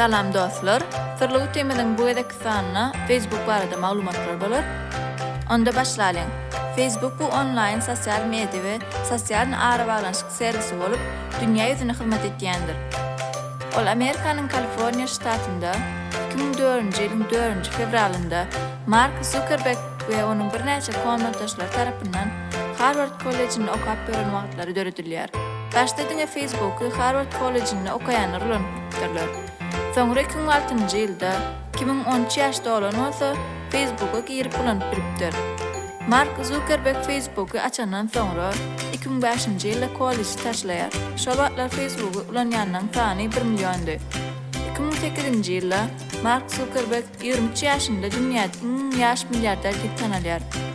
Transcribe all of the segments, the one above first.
Salam dostlar, Syrly Utimiziň bu gezekki sanyna Facebook barada maglumatlar bolar. Onda başlalyň. Facebook bu onlaýn sosial media we sosial arabaglanyşyk servisi bolup, dünýä ýüzüne hyzmat etýändir. Ol Amerikanyň Kaliforniýa ştatynda 2004-nji ýylyň 4-nji fewralynda Mark Zuckerberg we onuň birnäçe komnatdaşlary tarapyndan Harward kollejinde okap ýören wagtlary döredilýär. Daşda diňe Facebooky Harward kollejinde okaýanlar ulanyp gidipdirler. Soňra iki müň altynjy ýylda, Kimiň on üç ýaş dolan bolsa, Facebooka girip ulanyp bilipdir. Mark Zukerberg Facebooky açandan soňra, iki müň bäşinji ýylda kolleji taşlaýar. Şol wagtlar Facebooky ulanýanlaryň sany bir milliondy. Iki müň sekizinji ýylda Mark Zukerberg ýigrimi üç ýaşynda dünýäde iň ýaş milliarder diýip tanalýar.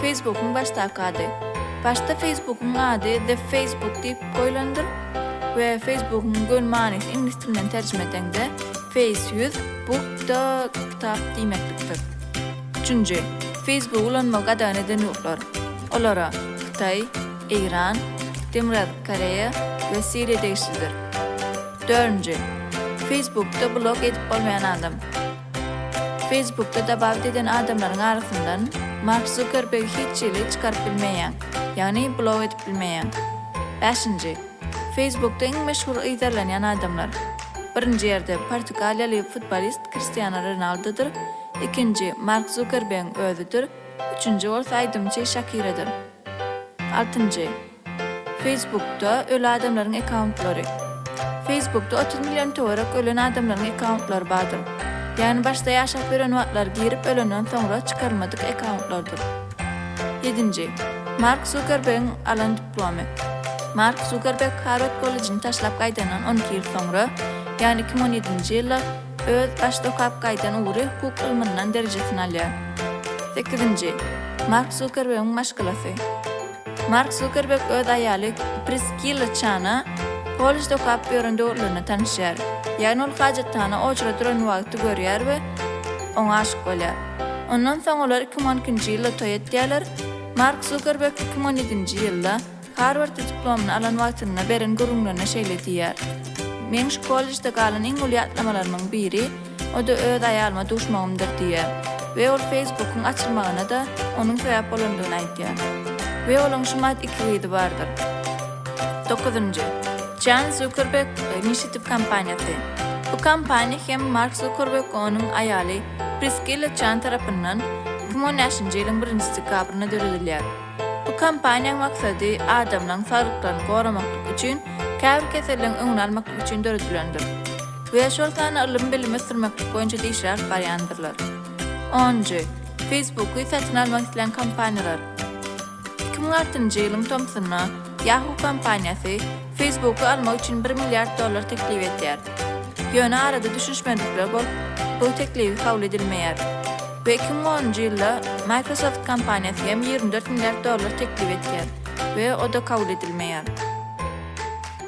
Feýsbukyň başdaky ady. Başda Feýsbukyň ady The Facebook diýip goýlandyr we Feýsbukyň göni manysy iňlis dilinden terjime edeňde Face, ýüz, Book, da, kitap diýmeklikdir. Üçünji, Feýsbugy ulanmagy gadagan eden ýurtlar. Olara, Hytaý, Eýran, Demirgazyk Koreýa we Siriýa degişlidir. Dördünji, Feýsbukda blog edip bolmaýan adam. Facebookda dabawt eden adamlaryň arasyndan Mark Zuckerberg hiç hili çykaryp bilmeýäň, ýagny blok edip bilmeýäň. Bäşinji. Facebookda iň meşhur yzarlanýan adamlar. Birinji ýerde portugaliýaly futbolist Kristiano Ronaldodyr, ikinji Mark Zuckerbergiň özüdir, üçünji bolsa aýdymçy Şakiradyr. Altynjy. Feýsbukda öli adamlaryň ekkauntlary. Feýsbukda otuz million töwerek ölen adamlaryň ekkauntlary bardyr. Ýagny başda ýaşap ýören wagtlary girip ölenden soňra çykarylmadyk ekkauntlordyr. Ýedinji. Mark Zukerbegiň alan diplomy. Mark Zukerbeg Harward kollejini taşlap gaýdandan on iki ýyl soňra, ýagny iki müň on ýedinji ýylda öz başda okap gaýdan ugry hukuk ylmyndan derejesini alýar. Sekizinji. Mark Zukerbegiň maşgalasy. Mark Zukerberg öz aýaly Priskilla Çana kollejde okap ýören döwürlerinde tanyşýar. Ýagny ol hajathana oçry duran wagty görýär we oňa aşyk bolýar. Ondan soň olar iki müň on ikinji ýylda toý etýärler. Mark Zukerberg iki müň on ýedinji ýylda Harwardda diplomyny alan wagtynda beren gürrüňlerinde şeýle diýýär, Meň şu kollejde galan iň uly ýatlamalarymyň biri, O-da öz aýalyma duşmagymdyr diýýär we ol Facebookyň açylmagyna-da onuň sebäp bolandygyny aýtýar. We olaň şumat iki gyzy bardyr. Dokuzynjy. Jan Zukerberg Initiative kompaniýasy. Bu kompaniýa hem Mark Zukerberg we onuň aýaly Priskilla Jan tarapyndan iki müň on bäşinji ýylyň birinji dekabrynda döredilýär. Bu kompaniýaň maksady adamlaryň saglyklaryny goramaklyk üçin käbir keselligiň öňüni almaklyk üçin döredilendir. we şol sanda ylym-bilimi ösdürmeklik boýunça işler alyp barýandyrlar. Onunjy, Facebook-y satyn almak islän kompaniýalar. Iki müň altynjy ýylyň tomsunda Yahoo kompaniýasy Facebook-y almak üçin bir milliard dollar teklip edýär. Ýöne arada düşünişmezlikler bolup, bu teklibi kabul edilmeýär we iki müň onunjy ýylda Microsoft kompaniýasy hem ýigrimi dört milliard dollar teklip edýär we o-da kabul edilmeýär.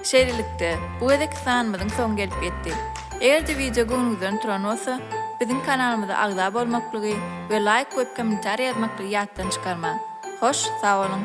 Şeýlelikde, bu gezekki sanymyzyň soňy gelip ýetdi. Eger-de wideo göwnüňizden turan bolsa, biziň kanalymyza agza bolmaklygy we laýk goýup kommentariýa ýazmaklygy ýatdan çykarmaň. Hoş, sag boluň!